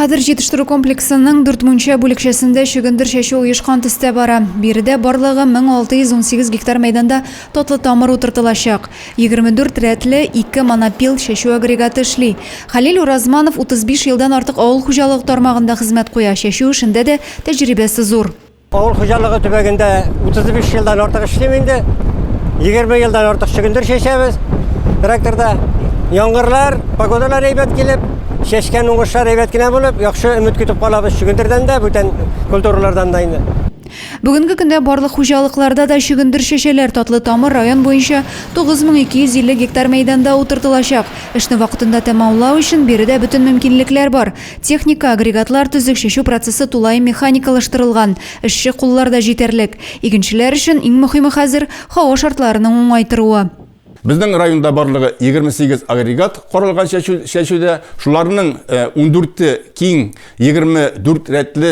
Хәзер җитештерү комплексының дүртмүнчә бүлекчәсендә чөгендер чәчү оешкан төстә бара. Биредә барлыгы 1618 гектар мәйданда татлы тамыр утыртылачак. 24 рәтле ике монопил чәчү агрегаты эшли. Хәлил Уразманов 35 елдан артык авыл хуҗалыгы тармагында хезмәт куя, чәчү эшендә дә тәҗрибәсе зур. Авыл хуҗалыгы төбәгендә 35 елдан артык эшлим инде. 20 елдан артык чөгендер чәчәбез. Тракторда яңгырлар, погодалар әйбәт килеп, чәчкән уңышлар әйбәт кенә булып, яхшы өмет көтеп калабыз чөгендердән дә, бүтән культуралардан да инде. Бүгенге көндә барлык хуҗалыкларда да чөгендер чәчәләр, Татлы Тамыр район буенча 9250 гектар мәйданда утыртылачак. Эшне вакытында тәмамлау өчен биредә бөтен мөмкинлекләр бар. Техника, агрегатлар төзек, чәчү процессы тулаем механикалаштырылган, эшче куллар да җитәрлек. Игенчеләр өчен иң мөхиме хәзер, һава шартларының уңай торуы. Безнең районда барлыгы 28 агрегат каралган чәчүдә, шуларның ундүрте киң 24 рәтле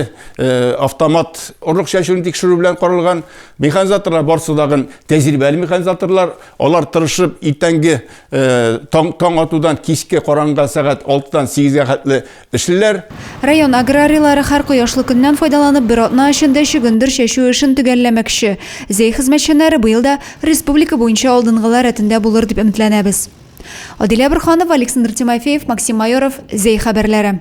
автомат орлык чәчүне тикшерү белән каралган. Механизаторлар барысы тагын тәҗрибәле механизаторлар. Алар тырышып иртәнге таң, таң атудан кичке караңгы сәгать 6-дан 8-гә хәтле эшлиләр. Район аграрийлары һәр кояшлы көннән файдаланып бер атна эчендә чөгендер чәчү эшен төгәлләмәкче. Зәй хезмәтчәннәре быел да республика буенча алдынгылар рәтендә булыр дип өметләнәбез. Адилә Борһанова, Александр Тимофеев, Максим Майоров, Зәй хәбәрләре.